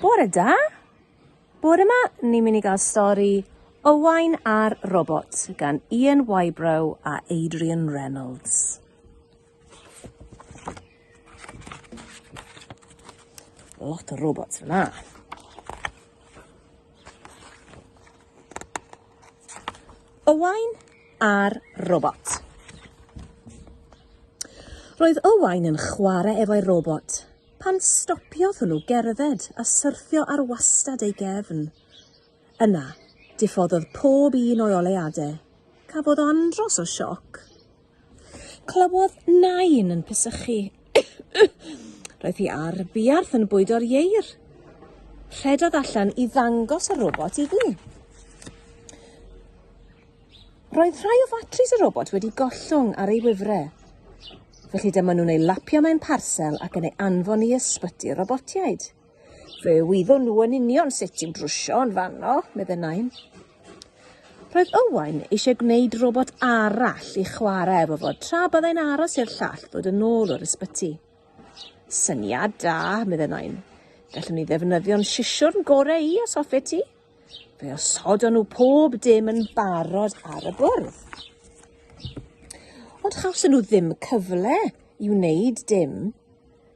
Bore da! Bore yma, ni'n mynd i gael stori Owain a'r Robot gan Ian Wybrow a Adrian Reynolds. Lot o robots yna. Owain a'r Robot. Roedd Owain yn chwarae efo'i robot Pan stopiodd hwnnw gerdded a syrthio ar wastad ei gefn. Yna, diffoddodd pob un o'i oleuadau. Cafodd o andros o sioc. Clywodd nain yn pysychu. Roedd hi ar buarth yn bwydo'r ieir. Rhedodd allan i ddangos y robot iddi. Roedd rhai o fatris y robot wedi gollwng ar ei wifre. Felly dyma nhw'n ei lapio mewn parsel ac yn ei anfon i ysbyty'r robotiaid. Fe wyddwn nhw yn union sut ti'n drwsio yn fanno, medde Nain. Roedd Owain eisiau gwneud robot arall i chwarae efo fod tra byddai'n aros i'r llall ddod yn ôl o'r ysbyty. Syniad da, medde Nain. Gallwn ni ddefnyddio'n sisiwrn gorau i os hoffe ti. Fe osodon nhw pob dim yn barod ar y bwrdd. Ond chawson nhw ddim cyfle i wneud dim.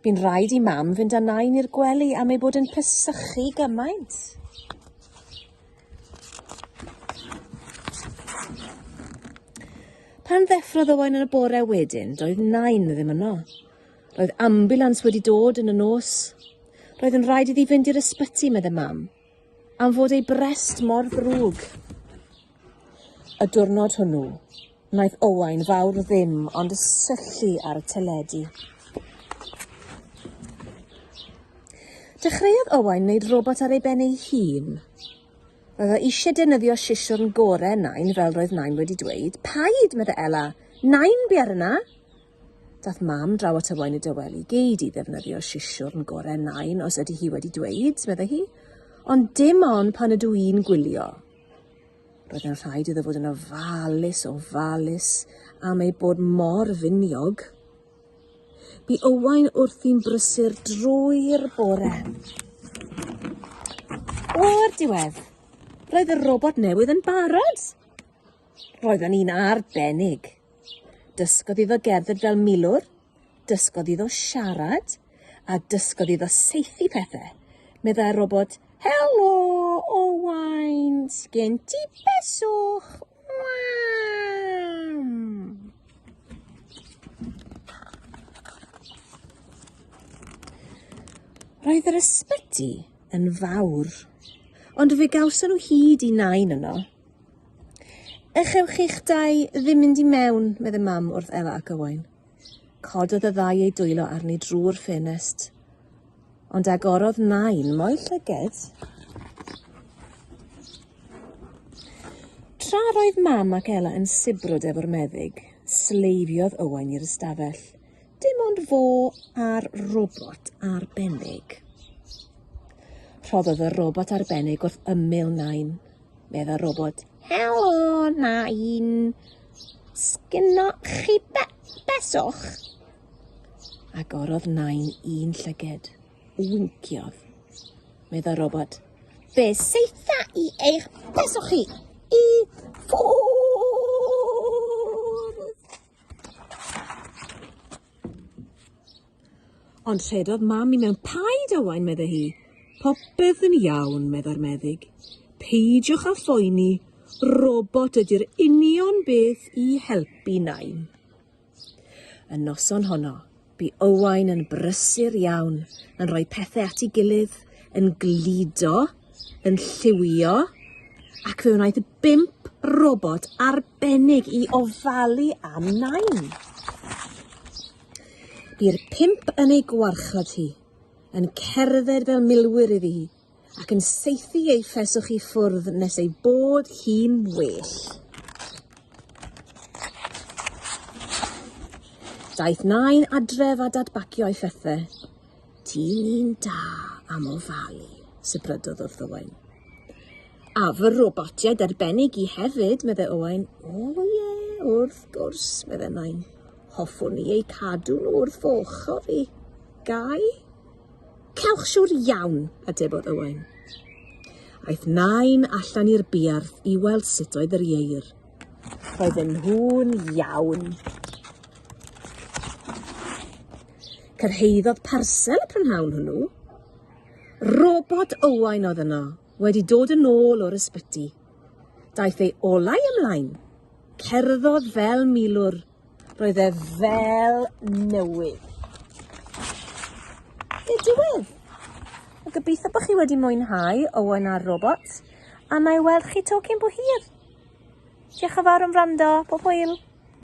Bu'n rhaid i mam fynd â nain i'r gwely am ei bod yn pysychu gymaint. Pan ddeffrodd Owain yn y bore wedyn, doedd nain ddim yno. Roedd ambulans wedi dod yn y nos. Roedd yn rhaid iddi fynd i'r ysbyty, meddai mam. am fod ei brest mor ddrwg. Y diwrnod hwnnw, wnaeth Owain fawr ddim ond syllu ar y teledu. Dechreuodd Owain wneud robot ar ei ben ei hun. Roedd o eisiau defnyddio sisiwrn gorau Nain fel roedd Nain wedi dweud. Paid, meddai Ela. Nain, bi ar yna. Daeth mam draw at y wain i dyweli, gei di ddefnyddio sisiwrn gorau nain os ydy hi wedi dweud, meddai hi, ond dim ond pan ydw i'n gwylio. Roedd yn rhaid iddo fod yn ofalus, ofalus am ei bod mor finiog. Bu Owain wrthi'n brysur drwy'r bore. O'r diwedd, roedd y robot newydd yn barod. Roedden ni'n arbennig. Dysgodd iddo gerdded fel milwr, dysgodd iddo siarad, a dysgodd iddo saethu pethau, meddai'r robot, Helo, Owain, sgen ti beswch? Roedd yr ysbyty yn fawr, ond fe gawson nhw hyd i nain yno. Echewch chi'ch dau ddim mynd i mewn, medde mam wrth Ela ac Owain. Cododd y ddau eu dwylo arni drwy'r ffenest. Ond agorodd nain mo'i llyged. Tra roedd mam ac Ela yn sibrwd efo'r meddyg, sleifiodd Owain i'r ystafell. Dim ond fo a'r robot arbennig. Rhoddodd y robot arbennig wrth ymyl Nain. Medda robot, Helo, Nain. Sgynno chi be beswch? Agorodd Nain un llyged. Winciodd. Medda robot, Fe seitha i eich beswch chi i ffwrdd. Ond rhedodd mam i mewn paid Owain, meddai hi. Popeth yn iawn, meddai'r meddyg. Peidiwch â phoeni, robot ydy'r union beth i helpu Nain. Y noson honno, Bu Owain yn brysur iawn, yn rhoi pethe at ei gilydd, yn gludo, yn lliwio, ac fe wnaeth bump robot arbennig i ofalu am Nain. Bu'r pump yn ei gwarchod hi, yn cerdded fel milwyr iddi hi, ac yn saethu ei pheswch i ffwrdd nes ei bod hi'n well. Daeth nain adref a dadbacio ei phethau. Ti'n un da am ofalu, sybrydodd wrth Owain. A fy robotiau derbenig i hefyd, medde Owain. O ie, yeah, wrth gwrs, medde nain. Hoffwn i eu cadw nhw wrth fy ochr i. Gai? Cewch siwr iawn, atebodd Owain. Aeth nain allan i'r buarth i weld sut oedd yr ieir. Roedden nhw'n iawn. Cyrhaeddodd parsel y prynhawn hwnnw. Robot Owain oedd yno, wedi dod yn ôl o'r ysbyty. Daeth ei olau ymlaen. Cerddodd fel milwr. Roedd e fel newydd. I'r diwedd! A gobeithio bod chi wedi mwynhau Owen a'r Robot, a mae weld chi to cyn bo hir. Diolch yn fawr am wrando, pob hwyl!